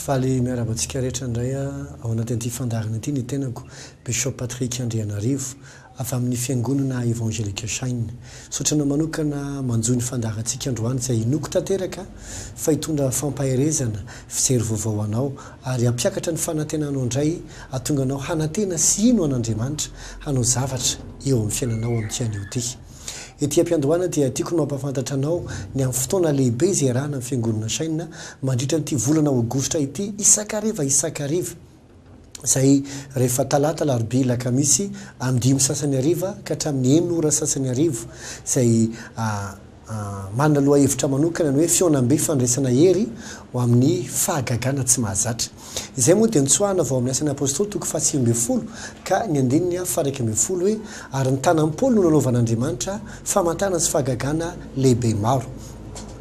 Faly miarahaba antsika rehetra indray ao anatin'ity fandaharana ity ny tenako Bishop Patrick Andrianarivo Avy amin'ny Fiangonana Evangelika Shine. Saotrana manokana manjohy ny fandaharantsika androany izay inoako tanteraka fa hitondra fampaherezana, fijery vaovao ho anao ary hampiakatra ny fanantenanao indray hahatonga anao hanantena sy hino an'Andriamanitra hanao zavatra eo amin'ny fiainanao amin'ity anio ity. Ety am-piandohana dia tiako ny mampahafantatra anao ny amin'ny fotoana lehibe izay iarahana amin'ny Fiangonana Shine mandritra an'ity volana Aogositra ity isan-kariva isan-kariva. izay rehefa talata, alarobia, alakamisy amin'ny dimy sasany hariva ka hatramin'ny enina ora sasany hariva, izay manana lohahevitra manokana ny hoe Fihaonambe Fandraisana Hery ho amin'ny Fahagagana Tsy Mahazatra. Izay moa dia notsoahina avy ao amin'ny Asan'ny Apôstôly toko fahasivy ambin'ny folo ka ny andininy faharaika ambin'ny folo hoe, Ary ny tanan'i Paoly no nanaovan'Andriamanitra famantana sy fahagagana lehibe maro.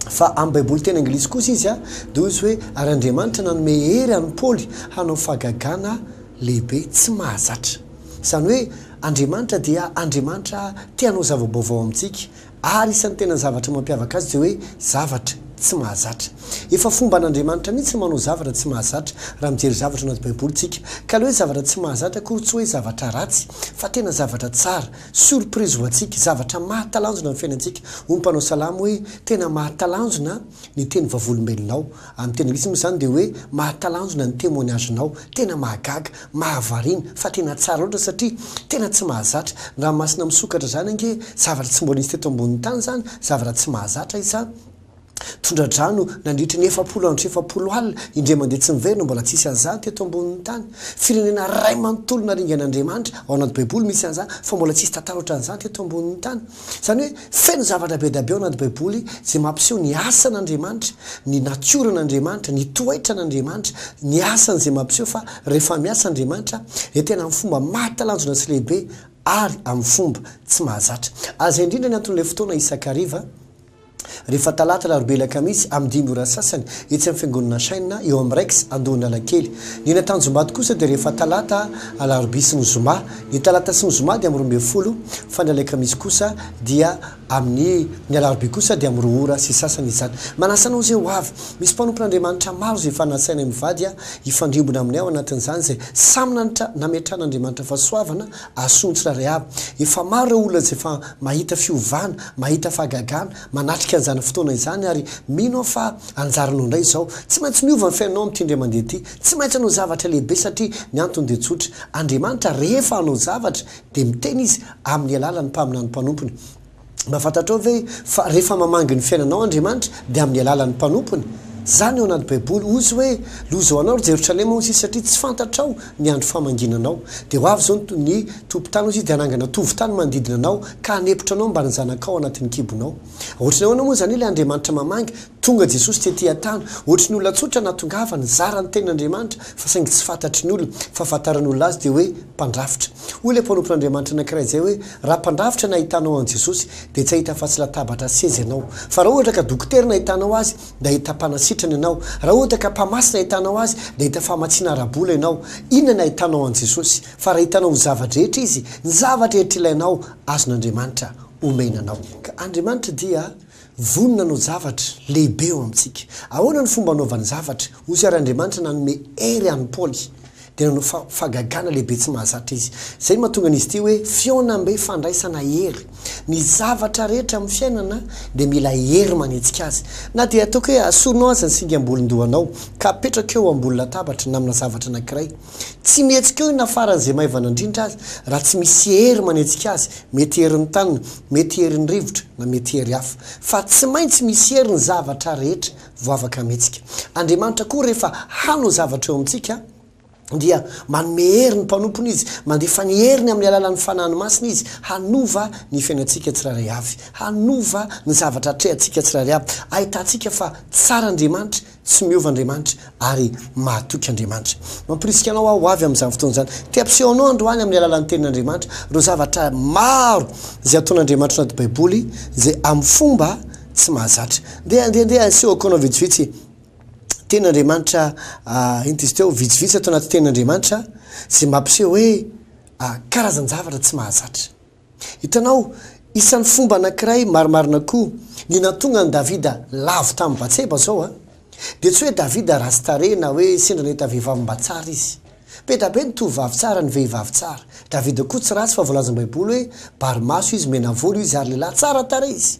Fa amin'ny Baiboly teny anglisy kosa izy dia hoy izy hoe, Ary Andriamanitra nanome hery an'i Paoly hanao fahagagana lehibe tsy mahazatra. Izany hoe Andriamanitra dia Andriamanitra te hanao zava-baovao amintsika, ary isan'ny tena zavatra mampiavaka Azy dia hoe zavatra tsy mahazatra. Efa fomban'Andriamanitra mihitsy ny manao zavatra tsy mahazatra, raha mijery zavatra ao anaty Baiboly isika. Ka ilay hoe zavatra tsy mahazatra akory tsy hoe zavatra ratsy, fa tena zavatra tsara. Surprise ho antsika, zavatra mahatalanjona ny fiainantsika. Hoy ny mpanao salamo hoe, Tena mahatalanjona ny teny vavolombelonao. Amin'ny teny anglisy moa izany dia hoe, Mahatalanjona ny témoignage-nao. Tena mahagaga, mahavariana, fa tena tsara loatra satria tena tsy mahazatra. Ny ranomasina misokatra izany ange zavatra tsy mbola nisy teto ambonin'ny tany izany, zavatra tsy mahazatra izany. Tondra-drano nandritry ny efapolo andro sy efapolo alina, indray mandeha tsy miverina, mbola tsy hisy an'izany teto ambonin'ny tany. Firenena iray manontolo naringan'Andriamanitra, ao anaty Baiboly misy an'izany, fa mbola tsy hisy tantara ohatran'izany teto ambonin'ny tany. Izany hoe, feno zavatra be dia be ao anaty Baiboly izay mampiseho ny asan'Andriamanitra, ny natioran'Andriamanitra, ny toetran'Andriamanitra, ny asany izay mampiseho fa rehefa miasa Andriamanitra dia tena amin'ny fomba mahatalanjona sy lehibe ary amin'ny fomba tsy mahazatra. Azy indrindra ny anton'ilay fotoana isakariva. rehefa talata, alarobia, alakamisy amin'ny dimy ora sasany etsy amin'ny fiangonana Shine eo amin'ny Rex Andohan'Alakely. Ny eny Antanjombado kosa dia rehefa talata, alarobia sy ny zoma. Ny talata sy ny zoma dia amin'ny roa ambin'ny folo fa ny alakamisy kosa dia amin'ny, ny alarobia kosa dia amin'ny roa ora sy sasany izany. Manasa anao izay ho avy. Misy mpanompon'Andriamanitra maro izay efa nasainay mivady hifandrimbona aminay ao anatin'izany izay samy nanatra nametrahan'Andriamanitra fahasoavana Ason'ny tsirairay avy. Efa maro ireo olona izay efa mahita fiovana, mahita fahagagana, manatrika an'izany fotoana izany ary mino aho fa anjaranao indray izao. Tsy maintsy miova ny fiainanao amin'ity indray mandeha ity. Tsy maintsy hanao zavatra lehibe satria ny antony dia tsotra. Andriamanitra rehefa hanao zavatra dia miteny Izy amin'ny alalan'ny mpaminany mpanompony. Mba fantatrao ve fa rehefa mamangy ny fiainanao Andriamanitra dia amin'ny alalan'ny mpanompony? Izany ao anaty baiboly, hozy hoe loza ho anao ry Jerosalema hozy izy satria tsy fantatrao ny andro famanginanao. Dia ho avy izao ny tompon-tany hozy izy dia hanangana tovon-tany manodidina anao ka hanepotra anao mbamin'ny zanakao ao anatin'ny kibonao. Ohatran'ny ahoana moa izany ilay Andriamanitra mamangy? Tonga Jesosy tety an-tany, ohatry ny olona tsotra nahatongava, nizara ny tenin'Andriamanitra, fa saingy tsy fantatry ny olona, fa ahafantaran'ny olona azy dia hoe mpandrafitra. Hoy ilay mpanompon'Andriamanitra anankiray izay hoe, Raha mpandrafitra no ahitanao an'i Jesosy, dia tsy hahita afa-tsy latabatra sy seza ianao. Fa raha ohatra ka dokotera no ahitanao azy, dia hahita mpanasitrana ianao. Raha ohatra ka mpamatsy no ahitanao azy, dia hahita famatsiana ara-bola ianao. Inona no ahitanao an'i Jesosy? Fa raha hitanao ho zava-drehetra Izy, ny zava-drehetra ilainao, azon'Andriamanitra omena anao. Ka Andriamanitra dia. Vonona hanao javatra lehibe ao amintsika. Ahoana ny fomba hanaovany zavatra? Hoy ary Andriamanitra nanome hery an'i Paoly, dia nanao fa, fahagagana lehibe tsy mahazatra izy. Izay no mahatonga an'izy ity hoe fihaonambe fandraisana hery. Ny zavatra rehetra amin'ny fiainana dia mila hery manetsika azy. Na dia ataoko hoe asorinao aza ny singam-bolon-dohanao, ka apetrakao eo ambony latabatra na amina zavatra anankiray, tsy mihetsika eo na faran'izay maivana indrindra aza, raha tsy misy hery manetsika azy, Mety herin'ny tany, mety herin'ny rivotra, na mety hery hafa. Fa tsy maintsy misy hery ny zavatra rehetra vao afaka hametsika. Andriamanitra koa rehefa hanao zavatra eo amintsika dia manome hery ny mpanompony Izy, mandefa ny heriny amin'ny alalan'ny Fanahiny Masina Izy hanova ny fiainantsika tsirairay avy, hanova ny zavatra atrehantsika tsirairay avy, ahitantsika fa tsara Andriamanitra, Tsy miova Andriamanitra ary mahatoky Andriamanitra. Mampirisika anao aho ho avy amin'izany fotoana izany. Te hampiseho anao androany amin'ny alalan'ny Tenin'Andriamanitra ireo zavatra maro izay ataon'Andriamanitra anaty Baiboly izay amin'ny fomba tsy mahazatra. Ndeha, ndeha, ndeha hasehoako anao vitsivitsy Tenin'Andriamanitra, ah, inty izy teo, vitsivitsy ato anaty Tenin'Andriamanitra izay mampiseho hoe, ah, karazan-javatra tsy mahazatra. Hitanao, isan'ny fomba anankiray marimarina koa ny nahatonga an'i Davida lavo tamin'i Batseba izao an. Dia tsy hoe Davida ratsy tarehy na hoe sendra nahita vehivavy mba tsara izy. Be da be ny tovovavy tsara, ny vehivavy tsara. Davida koa tsy ratsy fa voalazan'ny Baiboly hoe bary maso izy, menavolo izy ary lehilahy tsara tarehy izy.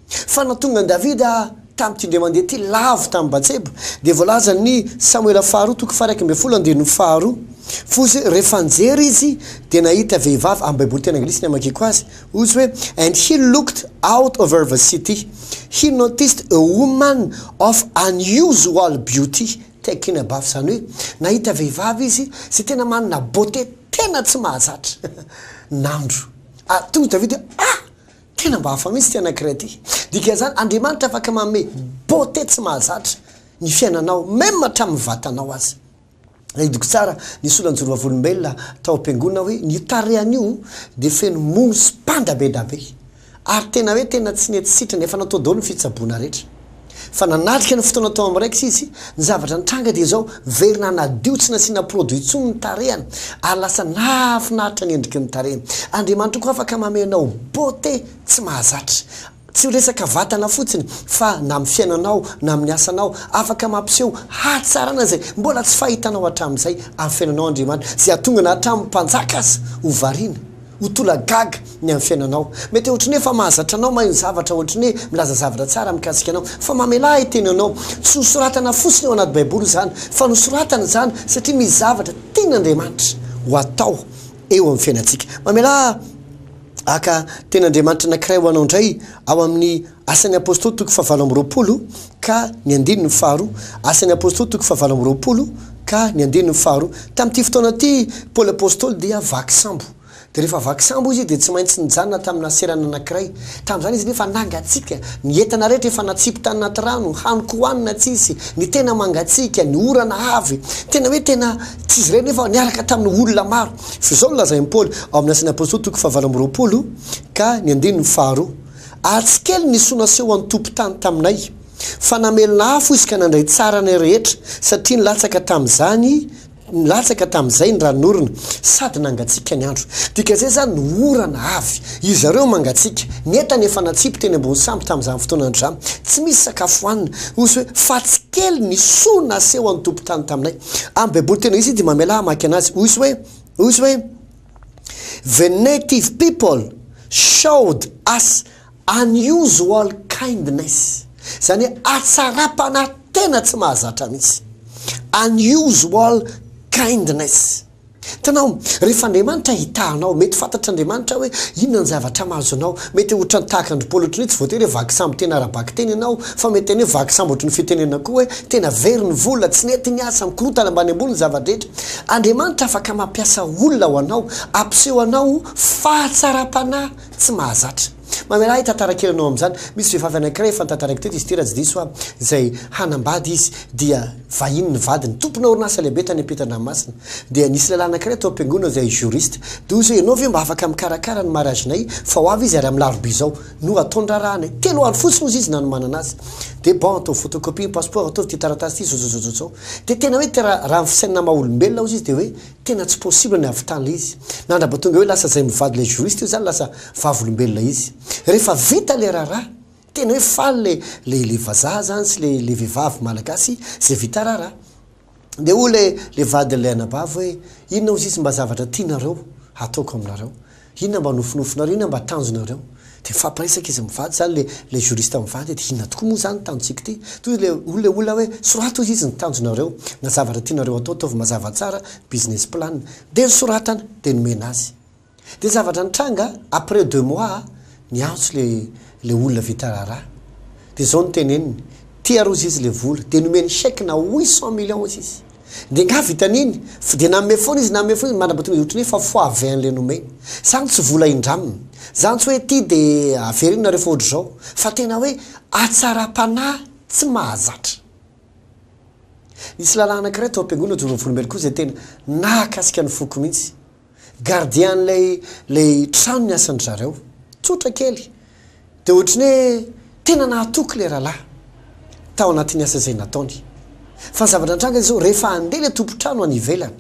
Fa nony tonga an'i Davida tamin'ity indray mandeha ity lavo tamin'i Batseba, dia voalazan'ny Samoela faharoa toko faharaika ambin'ny folo andininy faharoa, Fuz rehefa nijery izy dia nahita vehivavy, amin'ny Baiboly teny anglisy ny hamakiako azy, hozy hoe, And he looked out over the city, he noticed a woman of unusual beauty, taken aback, izany hoe, nahita vehivavy izy izay tena manana beauté tena tsy mahazatra. Nandro. Ary tonga izy Davida hoe, Ah! Tena mba hafa mihitsy ity anankiray ity. Dikan'izany, Andriamanitra afaka manome beauté tsy mahazatra ny fiainanao, même hatramin'ny vatanao aza. Nahidiko tsara ny solanjoro vavolombelona tao am-piangonana hoe ny tarehany io dia feno mono sy panda be da be. Ary tena hoe tena tsy nety sitrana, efa natao daholo ny fitsaboana rehetra. Fa nanatrika ny fotoana tao amin'ny Rex izy. Ny zavatra nitranga dia izao, very nanadio tsy nasiana produit intsony ny tarehany ary lasa nahafinaritra ny endriky ny tarehiny. Andriamanitra koa afaka manome anao beauté tsy mahazatra. Tsy ho resaka vatana fotsiny fa na amin'ny fiainanao na amin'ny asanao, afaka mampiseho hatsarana izay mbola tsy fahitanao hatramin'izay amin'ny fiainanao Andriamanitra, izay hahatonga na hatramin'ny mpanjaka aza ho variana. Ho tolagaga ny amin'ny fiainanao. Mety ohatry ny hoe efa mahazatra anao, mahay ny zavatra, ohatry ny hoe milaza zavatra tsara mikasika anao. Fa mamelà ahy teny anao. Tsy nosoratana fotsiny ao anaty Baiboly izany, fa nosoratana izany satria misy zavatra tian'Andriamanitra ho atao eo amin'ny fiainantsika. Mamelà haka tenin'Andriamanitra anankiray ho anao indray ao amin'ny Asan'ny Apôstôly toko fahavalo amby roapolo ka ny andininy faharoa Asan'ny Apôstôly toko fahavalo amby roapolo ka ny andininy faharoa Tamin'ity fotoana ity, Paoly Apôstôly dia vaky sambo. Dia rehefa vaky sambo izy, dia tsy maintsy nijanona tamina serana anankiray. Tamin'izany izy anefa nangatsiaka. Ny entana rehetra efa natsipy tany anaty rano, hany koa hanina tsy hisy. Ny tena mangatsiaka, ny orana avy. Tena hoe tena tsy izy irery nefa niaraka tamin'ny olona maro. Fa izao no lazain'i Paoly ao amin'ny Asan'ny Apôstôly toko fahavalo amby roapolo ka ny andininy faharoa. Atsy kely ny soa naseho an'ny tompon-tany taminay, fa namelona afo izy ka nandray tsara anay rehetra, satria nilatsaka tamin'izany, nilatsaka tamin'izay ny ranon'orona, sady nangatsiaka ny andro. Dika izay izany ny orana avy. Izareo mangatsiaka. Ny entana efa natsipy teny ambony sambo tamin'izany fotoana androzany. Tsy misy sakafo hohanina. Hoy izy hoe, Fatsy kely ny soa naseho an'ny tompon-tany taminay. Amin'ny Baiboly tena izy dia mamela ahy hamaky anazy. Hoy izy hoe, hoy izy hoe. The native people showed us unusual kindness, izany hoe hatsaram-panahy tena tsy mahazatra mihitsy. Unusual kindness. Tanao, rehefa Andriamanitra hahita anao, mety fantatr'Andriamanitra hoe inona ny zavatra mahazo anao. Mety ho ohatran'ny tahaka an-dry Paoly ohatran'ny hoe tsy voatery hoe vaky sambo tena ara-bakiteny ianao, fa mety haneho vaky sambo ohatry ny fitenenana koa hoe tena very ny vola, tsy nety ny asa, mikorontana ambany ambony ny zava-drehetra. Andriamanitra afaka mampiasa olona ho anao hampiseho anao fahatsaram-panahy tsy mahazatra. Mamelà ahy hitantara kely anao amin'izany. Misy vehivavy anankiray efa nitantarako teto izy ity raha tsy diso aho, izay hanambady izy dia vahiny ny vadiny, tompona orinasa lehibe tany am-pitandranomasina. Dia nisy lehilahy anankiray tao am-piangonana izay juriste. Dia hoy izy hoe, ianao ve mba afaka mikarakara ny mariazinay fa ho avy izy ary amin'ny larobia izao. no ataon-draharahanay. Telo andro fotsiny ozy izy nanomanana azy. Dia bon, ataovy photocopie ny passeport, ataovy ity taratasy ity, zozozozozo. Dia tena hoe te raha ny fisainana maha olombelona ozy izy dia hoe tena tsy possible ny hahavitany ilay izy. Nandraba tonga hoe lasa izay mivady ilay juriste io izany lasa vavolombelona izy. Rehefa vita ilay raharaha, tena hoe faly ilay ilay vazaha izany sy ilay ilay vehivavy malagasy izay vita raharaha. Dia hoy ilay ilay vadin'ilay anabavy hoe, Inona hozy izy mba zavatra tianareo hataoko aminareo? Inona mba nofinofinareo? Inona mba tanjonareo? Dia mifampiresaka izy mivady, izany ilay ilay juriste mivady hoe, Dia inona tokoa moa izany ny tanjontsika ity? Toy ilay hoy ilay olona hoe, Soraty hozy izy ny tanjonareo na zavatra tianareo hatao, ataovy mazava tsara ny business plan. Dia nosoratany, dia nomena azy. Dia zavatra nitranga après deux mois a, niantso le le olona vita raharaha, dia izao no teneniny, te haroza izy le vola, dia nomeny chèque na huit cent millions izy, dia nga vitan'iny, fa dia nanome foana izy, nanome foana izy, mandra-ba tonga dia ohatran'ny hoe fa fois vingt an'le nomeny, zany tsy vola indraminy, zany tsy hoe ty de avereno nareo fa ohatr'izao, fa tena hoe hatsaram-panahy tsy mahazatra. Nisy lalàna anankiray tao am-piangonana Jono Volombeloko izay tena nahakasika ny foko mihitsy, Gardien lay lay trano niasan-dry zareo. Tsotra kely. Dia ohatry ny hoe tena nahatoky ilay rahalahy tao anatin'ny asa izay nataony. Fa ny zavatra nitranga dia izao, rehefa handeha ilay tompon-trano any ivelany,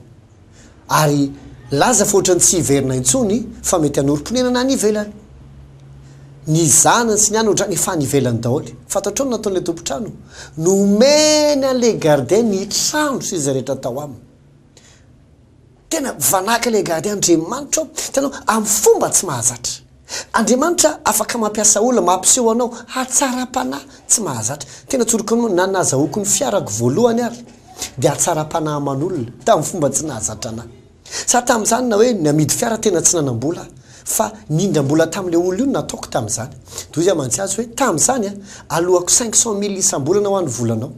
ary laza fa ohatry ny tsy hiverina intsony fa mety hanorim-ponenana any ivelany. Ny zanany sy ny anany ohatran'ny efa any ivelany daholo. Fantatrao ny nataon'ilay tompon-trano? Nomeny an'ilay gardien ny trano sy izay rehetra tao aminy. Tena vanaka ilay gardien Andriamanitra ô! Hitanao, amin'ny fomba tsy mahazatra. Andriamanitra afaka mampiasa olona mampiseho anao hatsaram-panahy tsy mahazatra. Tena tsoriko anao, na nazahoako ny fiarako voalohany ary dia hatsaram-panahy aman'olona tamin'ny fomba tsy nahazatra anà. Sa tamin'izany na hoe namidy fiara tena tsy nanam-bola aho, fa nindram-bola tamin'ilay olona io no nataoko tamin'izany. Toy izay mantsy azy hoe, tamin'izany aho, aloako cinq cent mille isam-bolana ho an'ny volanao.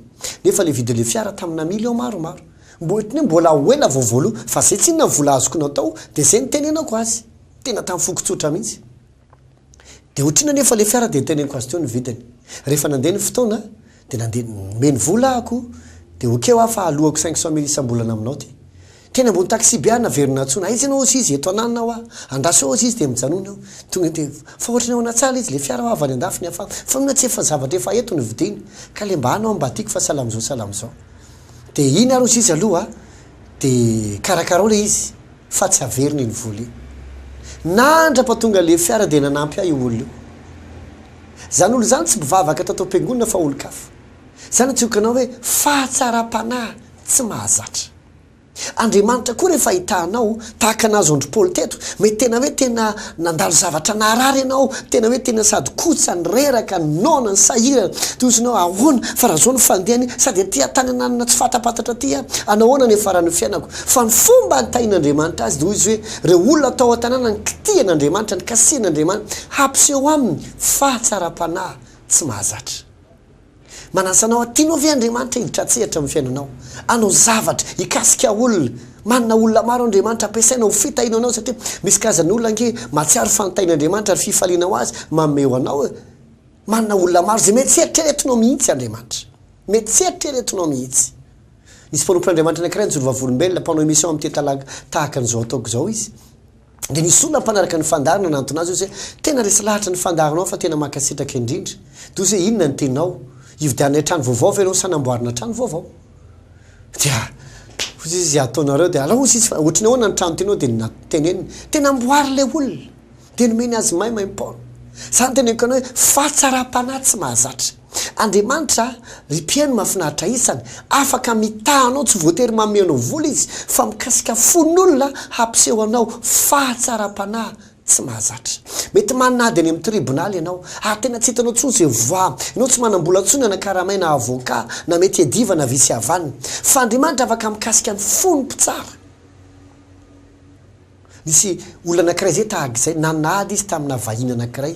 Nefa ilay vidin'ilay fiara taminà millions maromaro. Mba ohatry ny hoe mbola ho ela vao voaloa fa zay tsinona ny vola azoko natao dia zay nitenenako azy tena tamin'ny foko tsotra mihitsy. Dia ohatry inona anefa ilay fiara dia niteneniko azy teo ny vidiny. Rehefa nandeha ny fotoana dia nandeha nomeny vola ahako dia ok hoa fa aloako cinq cent mille isam-bolana aminao ty. Teny ambony taxi-be aho naverina nantsoina aiza ianao hozy izy eto ananona aho ah. Andraso eo hozy izy dia mijanona eo. Tonga dia fa ohatry ny ao anatsaha ilay izy ilay fiara hoa avy any andafy ny afara fa mino aho tsy efa zavatra efa eto ny vidiny ka ilay mba anao mba tiako fa salamizao salamizao. Dia iny aroso izy aloha dia karakarao ilay izy fa tsy averina iny vola iny. Nandrapa tonga ilay fiara dia nanampy ahy io olona io. Izany olona izany tsy mpivavaka tato am-piangonana fa olon-kafa. Izany antsoiko anao hoe fahatsaram-panahy tsy mahazatra. Andriamanitra koa rehefa ahita anao Tahaka ny nazon-dry Paoly teto, mety tena hoe tena nandalo zavatra naharary ianao, tena hoe tena sady kotsa ny reraka, ny noana, ny sahirana. Dia hozy ianao, Ahoana, fa raha izao no fandehany, sady aty an-tany ananona tsy fatapatatra aty aho, hanao ahoana ny hiafaran'ny fiainako? Fa ny fomba nitahian'Andriamanitra azy dia hoy izy hoe, Ireo olona tao an-tanàna nikitihan'Andriamanitra, nikasihan'Andriamanitra, hampiseho aminy fahatsaram-panahy tsy mahazatra. Manasa anao aho, Tianao ve Andriamanitra hiditra an-tsehatra amin'ny fiainanao, hanao zavatra hikasika olona? Manana olona maro Andriamanitra ampiasaina ho fitahiana anao, satria misy karazana olona ange mahatsiaro fa nitahin'Andriamanitra ary fifaliana ho azy manome ho anao e. Manana olona maro izay mety tsy eritreretinao mihitsy Andriamanitra. Mety tsy eritreretinao mihitsy. Nisy mpanompon'Andriamanitra anankiray nijoro vavolombelona, mpanao émission amin'ny Tetalaga, tahaka an'izao ataoko izao izy. Dia nisy olona mpanaraka ny fandary nanantona azy hoe, Tena resy lahatra ny fandarinao fa tena mankasitraka indrindra. Dia hozy hoe, Inona ny teninao? Hividiananay trano vaovao ve ianao sa hanamboarana trano vaovao? Dia hozy izy, Ataonareo dia alao hozy izy fa ohatry ny ahoana ny trano tianao? Dia teneniny. Dia namboary ilay olona. Dia nomeny azy maimaim-poana. Izany teneniko anao hoe fahatsaram-panahy tsy mahazatra. Andriamanitra, ry mpihaino mahafinaritra isany, afaka mitaha anao, tsy voatery manome anao vola Izy, fa mikasika fon'olona hampiseho anao fahatsaram-panahy tsy mahazatra. Mety manana ady any amin'ny tribonaly ianao, ary tena tsy hitanao intsony izay voa. Ianao tsy manam-bola intsony hanakaramay na avoka, na mety hiadiva na vy sy havanana. Fa Andriamanitra afaka mikasika ny fon'ny mpitsara. Nisy olona anankiray izay tahaka izay, nanala izy tamina vahiny anankiray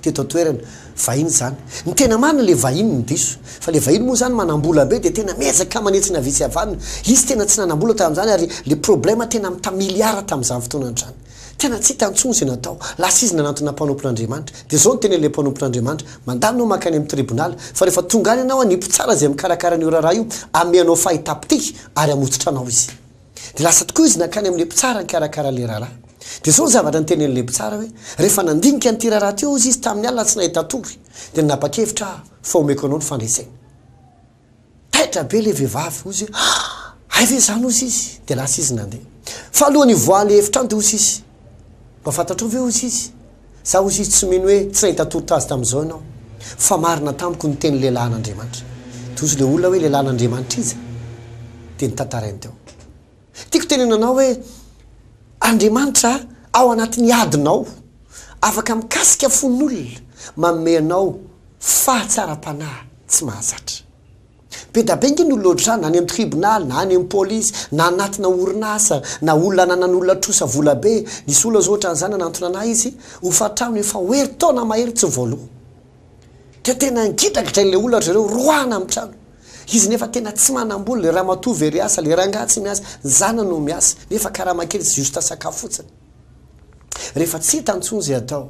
teto an-toerana. Vahiny izany. Ny tena marina ilay vahiny no diso. Fa ilay vahiny moa izany manam-bola be dia tena miezaka manetsina avia sy avanona. Izy tena tsy nanam-bola tamin'izany ary ilay problema tena mita miliara tamin'izany fotoana izany. Tena tsy hita intsony izay natao. Lasa izy nanantona mpanompon'Andriamanitra. Dia izao no tenen'ilay mpanompon'Andriamanitra, Mandalo ianao mankany amin'ny tribunal, fa rehefa tonga any ianao, ny mpitsara izay mikarakara an'io raharaha io hamehy anao fahitapitia ary hamotsotra anao izy. Dia lasa tokoa izy nankany amin'ilay mpitsara nikarakara an'ilay rahalahy. Dia izao ny zavatra notenenin'ilay mpitsara hoe, Rehefa nandinika an'ity rahalahy ity hozy izy tamin'ny alina tsy nahita tory, dia nanapa-kevitra aho fa homeko anao ny fandreseny. Taitra be ilay vehivavy, hozy hoe, Ah! Hay ve izany, hozy izy. Dia lasa izy nandeha. Fa alohan'ny hivoahan'ilay efitrano, dia hozy izy, Mba fantatrao ve, hozy izy, Za hoy izy tsy mino hoe tsy nahita tolotra azy tamin'izao ianao. Fa marina tamiko ny tenin'ny lehilahin'Andriamanitra. Dia hoy izy ilay olona hoe lehilahin'Andriamanitra iza? Dia notantarainy teo. Tiako tenenanao hoe Andriamanitra ao anatin'ny adinao afaka mikasika fon'olona manome anao fahatsaram-panahy tsy mahazatra. Be da be ange ny olona ohatr'izany, na any amin'ny tribonaly, na any amin'ny polisy, na anatina orinasa, na olona ananan'olona trosa vola be. Nisy olona izao ohatran'izany nanantona an'ahy izy, hofantrano efa ho herintaona mahery tsy voaloa. Dia tena ngidragidrain'ilay olona ry zareo, roahina amin'ny trano. Izy nefa tena tsy manam-bola, ilay ramatoa very asa, ilay rangahy tsy miasa, ny zanany no miasa, nefa karama kely sy juste sakafo fotsiny. Rehefa tsy hita intsony izay atao.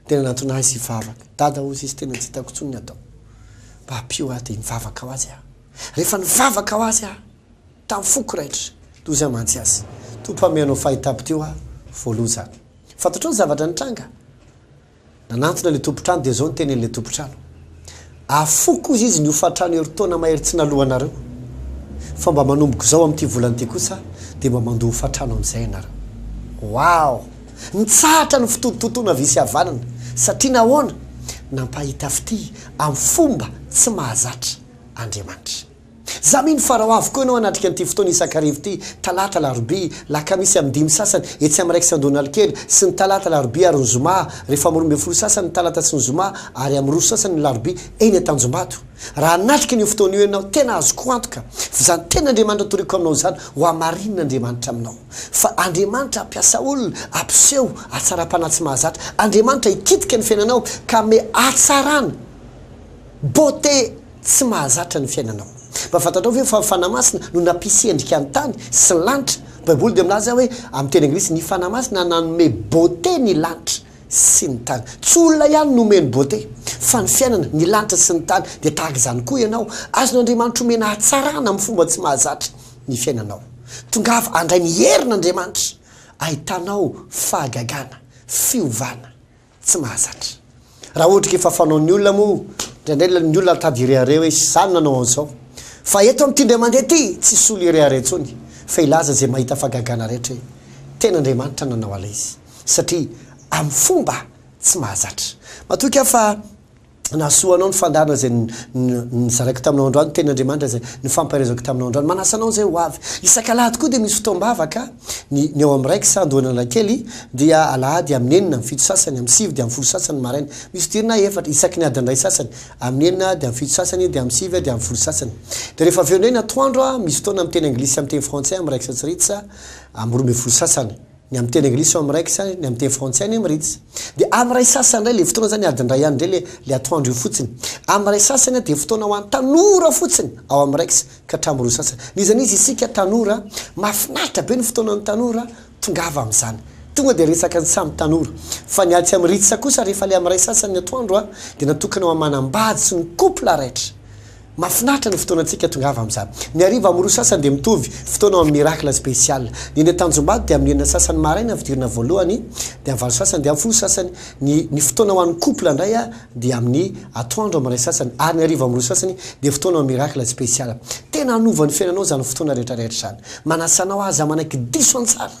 Tena nantona ahy sy vavaka. Dada hozy izy tena tsy hitako intsony ny atao. Mba ampio aho dia nivavaka ho azy aho. Rehefa nivavaka ho azy aho, tamin'ny foko raitra, toa izay mantsy azy. Tompo aho mihaino ny fahitako teo aho voaloha izany. Fantatrao ny zavatra nitranga? Nanantona ilay tompon-trano dia izao ny tenenin'ilay tompon-trano. Afoy kosa izy ny hofatrano herintaona mahery tsy naloanareo, fa mba manomboka izao amin'ity volana ity kosa dia mba mandoa hofatrano amin'izay ianareo. Waoo! Nitsahatra ny fototontontona havia sy havanana satria nahoana? Nampahita fitia amin'ny fomba tsy mahazatra Andriamanitra. Za mino fa raha ho avy koa ianao hanatrika an'ity fotoana isan-karivo ity, talata, alarobia, lakamisy amin'ny dimy sasany, etsy amin'ny Rex Andohanalokely, sy ny talata, alarobia ary ny zoma, rehefa amin'ny roa ambin'ny folo sasany ny talata sy ny zoma, ary amin'ny roa sasany ny alarobia, eny Antanjombato. Raha hanatrika an'io fotoana io ianao, tena azoko antoka fa izany tenin'Andriamanitra toriko aminao izany, hohamarinina Andriamanitra aminao. Fa Andriamanitra hampiasa olona, hampiseho hatsaram-panahy tsy mahazatra. Andriamanitra hikitika ny fiainanao ka hanome hatsarana, beauté, Tsy mahazatra ny fiainanao. Mba fantatrao ve fa ny Fanahy Masina no nampisy endrika ny tany sy ny lanitra? Ny Baiboly dia milaza hoe, amin'ny teny anglisy, Ny Fanahy Masina nanome beauté ny lanitra sy ny tany. Tsy olona ihany no omeny beauté, fa ny fiainana, ny lanitra sy ny tany. Dia tahaka izany koa ianao. Azon'Andriamanitra omena hatsarana amin'ny fomba tsy mahazatra ny fiainanao. Tongava handray ny herin'Andriamanitra ahitanao fahagagana, fiovana, tsy mahazatra. Raha ohatra ka efa fanaon'ny olona moa, indraindray ilay ny olona mitady hirehareha hoe izany no nanao an'izao. Fa eto amin'ity indray mandeha ity, tsy hisolo hirehareha intsony, fa hilaza izay mahita fahagagana rehetra hoe, Tena Andriamanitra no nanao an'ilay izy. Satria amin'ny fomba tsy mahazatra. Matoky aho fa. Nahasoa anao ny fandaharana izay nizaraiko taminao androany, ny tenin'Andriamanitra izay nifampaherezako taminao androany. Manasa anao izay ho avy. Isak'alahady koa dia misy fotoam-bavaka, ny ny ao amin'ny ray kisa Andohan'Analakely dia alahady amin'ny enina amin'ny fito sasany, amin'ny sivy dia amin'ny folo sasany ny maraina. Misy fidirana efatra, isaky ny adin'ny iray sasany, amin'ny enina dia amin'ny fito sasany dia amin'ny sivy dia amin'ny folo sasany. Dia rehefa avy eo indray ny atoandro, misy fotoana amin'ny teny anglisy sy amin'ny teny frantsay amin'ny iraika sy tsiririca, amin'ny roa ambin'ny folo sasany. Ny amin'ny teny anglisy ao amin'ny iraika sa ny amin'ny teny frantsay anie miritsy? Dia amin'ny iray sasany indray ilay fotoana izany adiny iray ihany indray ilay ilay atoandro io fotsiny. Amin'ny iray sasany dia fotoana ho an'ny tanora fotsiny ao amin'ny iraika ka hatramin'ny roa sasany. N'iza n'iza isika tanora, mahafinaritra be ny fotoanan'ny tanora, tongava amin'izany. Tonga dia resaka ny samy tanora. Fa ny atsy amin'iritsy kosa rehefa ilay amin'ny iray sasany ny atoandro dia natokana ho amin'ny manambady sy ny couple raitra. Mafinaritra ny fotoanantsika tongava amin'izany. Ny hariva amin'ny roa sasany dia mitovy fotoana ao amin'ny Miracle Special. Ny eny Tanjombato dia amin'ny enina sasany maraina ny fidirana voalohany, dia amin'ny valo sasany dia amin'ny folo sasany. Ny ny fotoana ho an'ny couple indray dia amin'ny atoandro amin'ny iray sasany ary ny hariva amin'ny roa sasany dia fotoana ao amin'ny Miracle Special. Tena hanova ny fiainanao izany fotoana rehetra rehetra izany. Manasa anao aza manaiky diso an-tsara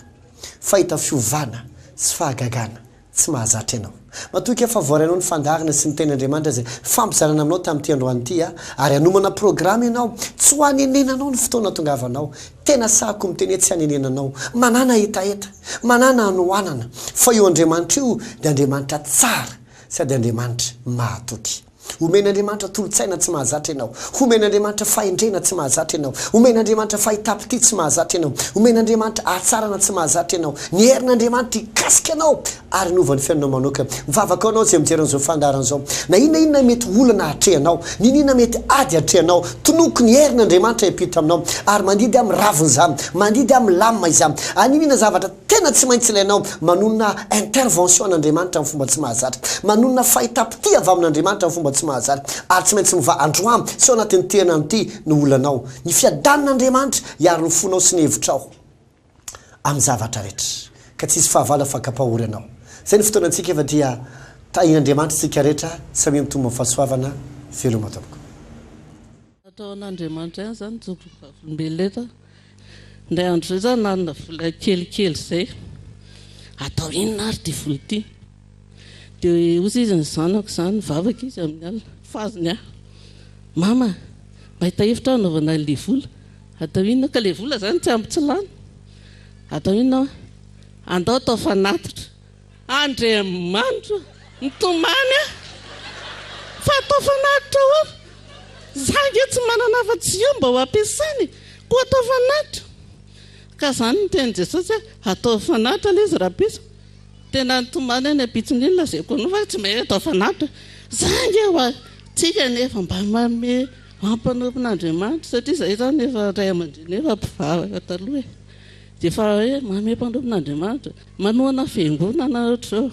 fa hahita fiovana sy fahagagana tsy mahazatra ianao. Matoky aho fa voarainao ny fandaharana sy ny Tenin'Andriamanitra izay fampizarana aminao tamin'ity androany ity aho, ary hanomana programa ianao, tsy ho hanenenanao ny fotoana hatongavanao. Tena sahako miteny hoe tsy hanenenanao. Manàna hetaheta, manàna hanoanana, fa io Andriamanitra io dia Andriamanitra tsara sady Andriamanitra mahatoky. Omen'Andriamanitra tolo-tsaina tsy mahazatra ianao. Homen'Andriamanitra fahendrena tsy mahazatra ianao. Omen'Andriamanitra fahitam-pitia tsy mahazatra ianao. Omen'Andriamanitra hatsarana tsy mahazatra ianao. Niherin'Andriamanitra hikasika anao ary hanova ny fiainanao manoka. Mivavaka ho anao izay mijery an'izao fandaharana izao. Na inona na inona mety ho olana atrehanao, niniana mety ady atrehanao, tonoiko ny herin'Andriamanitra hiampita aminao. Ary mandidy amin'ny ravina izaho, mandidy amin'ny lamina izaho. Aniniana zavatra. Tena tsy maintsy ilainao manonona intervention an'Andriamanitra amin'ny fomba tsy mahazatra, manonona fahita-pitia avy amin'Andriamanitra amin'ny fomba tsy mahazatra, ary tsy maintsy mivaha androany sy ao anatin'ity herinandro ity ny olanao. Ny fiadanan'Andriamanitra hiaro ny fonao sy ny hevitrao amin'ny zavatra rehetra, ka tsy hisy fahavalo afaka-pahory anao. Izay ny fotoana antsika efa dia tahin'Andriamanitra isika rehetra, samia mitombo amin'ny fahasoavana, veloma tompoko. Nataon'Andriamanitra ihany izany jobo vavolombelona eto. Indray andro izay izaho nanana vola kelikely izay. Atao inona ary ity vola ity? Dia hoy izy izany zanako izany, nivavaka izy amin'ny alina, fa azony ahy. Mama, mahita hevitra aho hanaovana an'ilay vola. Atao inona? Ka ilay vola izany tsy ampy tsy lany. Atao inona? Andao atao fanatitra. Andriamanitra mitomany a! Fa atao fanatitra ao aho. Za ange tsy manana afa-tsy io mba ho ampiasaina e! Koa atao fanatitra. Ka zany no nitenin'i Jesosy hoe atao fanatitra le izy rahampitso. Tena nitomany any ampitsony iny lazaiko anao fa tsy mahay atao fanatitra. Za ange ho ahy. Tsika anefa mba manome ampanompon'Andriamanitra satria zahay zany efa ray aman-dreny efa mpivavaka taloha e! Dia efa hoe manome mpanompo n'Andriamanitra, manohana fiangonana ohatr'izao.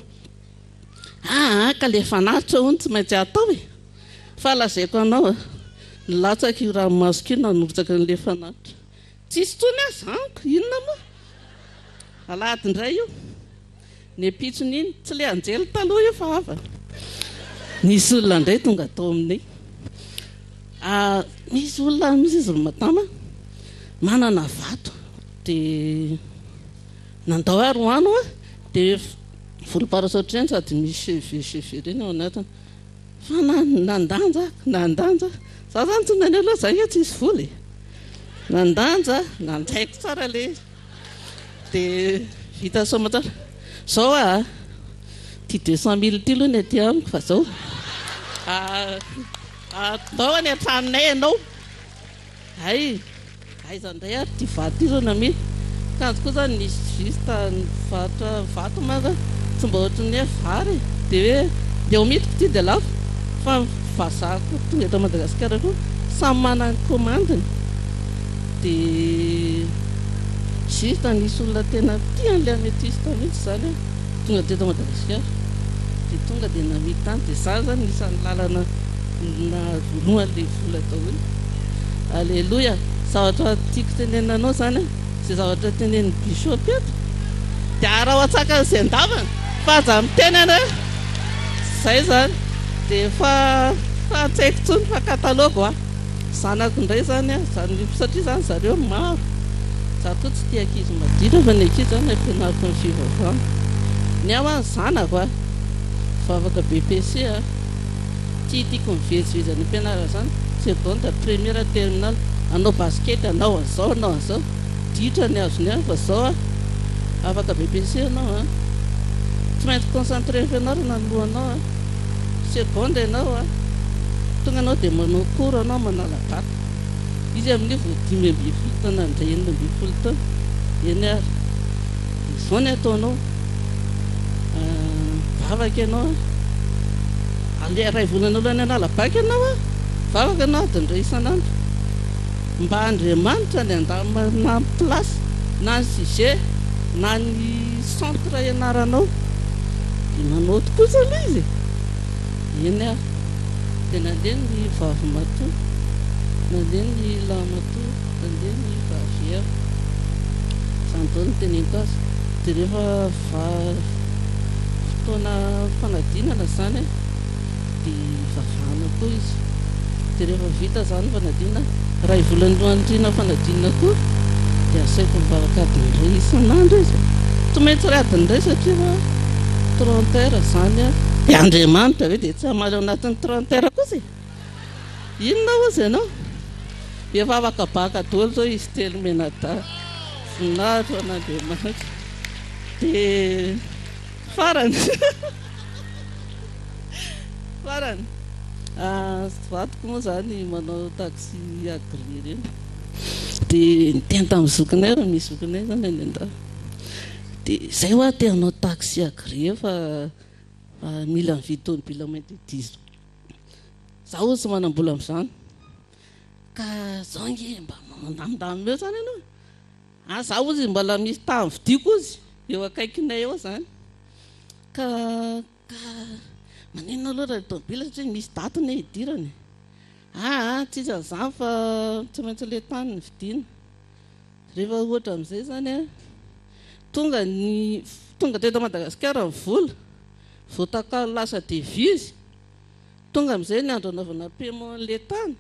Aa ka ilay fanatitra hono tsy maintsy atao e! Fa lazaiko anao a, nilatsaka io ranomasoko io nanrotsaka an'ilay fanatitra. Tsisy intsony aza amiko, inona moa? Alahady indray io. Nempitsony iny, tsy le anjely taloha io fa hafa. Nisy olona indray tonga tao aminay. Ah, misy olona misy izy ry Madama manana vato dia nandao ary ho ano ah, dia volom-parasaotra ireny sady misy cheveux cheveux ireny ao anatiny. Fa na nandanja ah, nandanja ah, za zany tsy naneho loha za nge tsisy vola e. Nandanja ah, nanjaiko tsara le. Dia vita somontsara. Zao a! Ity deux cent mille ity aloha ny aty amiko fa zao. Atao any an-tranonay ianao. Hay! Aiza indray ary ity vato ity zao no amidy. Kanjo koa izany misy juste mivarotra vato moa izany tsy mba ohatry ny hoe vary e! Dia hoe ndeha ho midiko ity dia lafo fa vazaha koa tonga eto Madagasikara koa samy manana ny commande-ny. Dia juste anisy olona tena tia an'ilay ametiste mihitsy izany an, tonga teto Madagasikara dia tonga dia namidy tany, dia izany izany anisan'ny lalana nahazoanoan'ilay vola daholo. Aleloia! Zavatra tiako tenenina anao izany an, izay zavatra tenenin'ny bishop eto, dia araho an-tsakan'izay an-davana fa aza miteny ianao e! Izay izany, dia efa tsy haiko intsony fa catalogue hoa. Zanako indray izany an, izany satria izany zareo maro, za koa tsy tia ankizy maditra fa ny ankizy izany ampianariko ny fivavahana. Ny ahy ho'a ny zanako an, vavaka BPC an, tiatiako ny vejivejy any ampianarana izany, seconde, première, terminale, hanao basket, hanao an'izao, hanao an'izao, ditra ny azony an, fa izao an, afaka BPC ianao an, tsy maintsy concentrer amin'ny fianarana ny lohanao an. Seconde ianao a! Tonga anao dia manao cours anao manala bac. Izy amin'io vao dimy ambin'ny folo taona handray enina ambin'ny folo taona. Eny ary. Dia izao ny ataonao. Mivavaka ianao a! Aleha iray volana alohan'ny hanala bac ianao a! Mivavaka ianao adiny iray isan'andro. Mba Andriamanitra any an-danitra mba hampy place na ny sujet na ny. Centre ianaranao dia manaoty kosa aloha izy e! Eny ary dia nandeha ny vavimatoa, nandeha ny lahamatoa, nandeha ny vaviera. Izany daholo no teneniko azy. Dia rehefa fotoana fanadinana izany a! dia hivavahana koa izy dia rehefa vita izany ny fanadinana, iray volana nohaniriana fanadinana koa dia asaiko mivavaka adiny iray isan'andro izy, tsy maintsy iray adiny iray satria efa trente heures izany an! Dia Andriamanitra ve dia tsy hamaly ao anatin'ny trente heures kosa e? Inona hozy ianao? Dia efa afaka baka daholo izao izy telo mianadahy, voninahitra ho an'Andriamanitra, dia farany. Farany, vadiko moa izany manao taxi agréé ireny, dia niteny tamin'ny zokinay raha misy zokinay izany any an-dafy, dia izay hoa te hanao taxi agréé fa mila mividy tomobila moins de dix ans, izaho hono tsy manam-bola amin'izany, ka izao ange mba mandamindamina eo izany ianao e. Ahy za ozy mbala misy tany vidiko ozy eo akaikinay eo zany ka ka maninona aloha raha tomobile satria misy daty ny hidirany e aa tsy izy an'izany fa tsy maintsy ilay tany ny vidiana rehefa ohatra amin'izay zany a tonga ny tonga teto Madagasikara ny vola vao takalo lasa devizy tonga amin'izay ny andro anaovana paiement an'ilay tany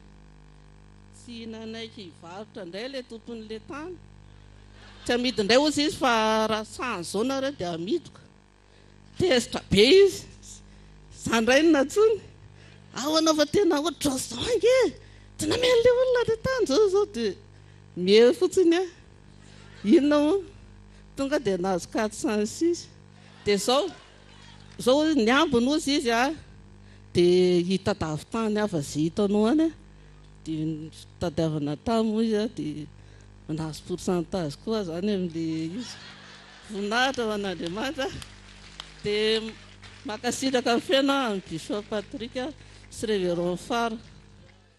Tsy nanaiky hivarotra indray ilay tompon'ilay tany. Tsy hamidy indray hozy izy fa raha sahy izao nareo dia hamidiko. Tezitra be izy. Izaho indray no nantsoiny. Ao ianao fa tena ohatr'izao ange e! Tsy namela ilay olona ilay tany izao izao dia mihery fotsiny aho. Inona moa? Tonga dia nahazo quatre cent six. Dia izao. Zao ny ambiny ozy izy a de hitadavy tany ava ze hitanao any a de nitadiavana tany moa izy a de nahazo pourcentage koa zany amle izy voninahitra ho an'Andriamanitra de mankasitraka feno a an'i Bishop Patrick sy Reverend Fara.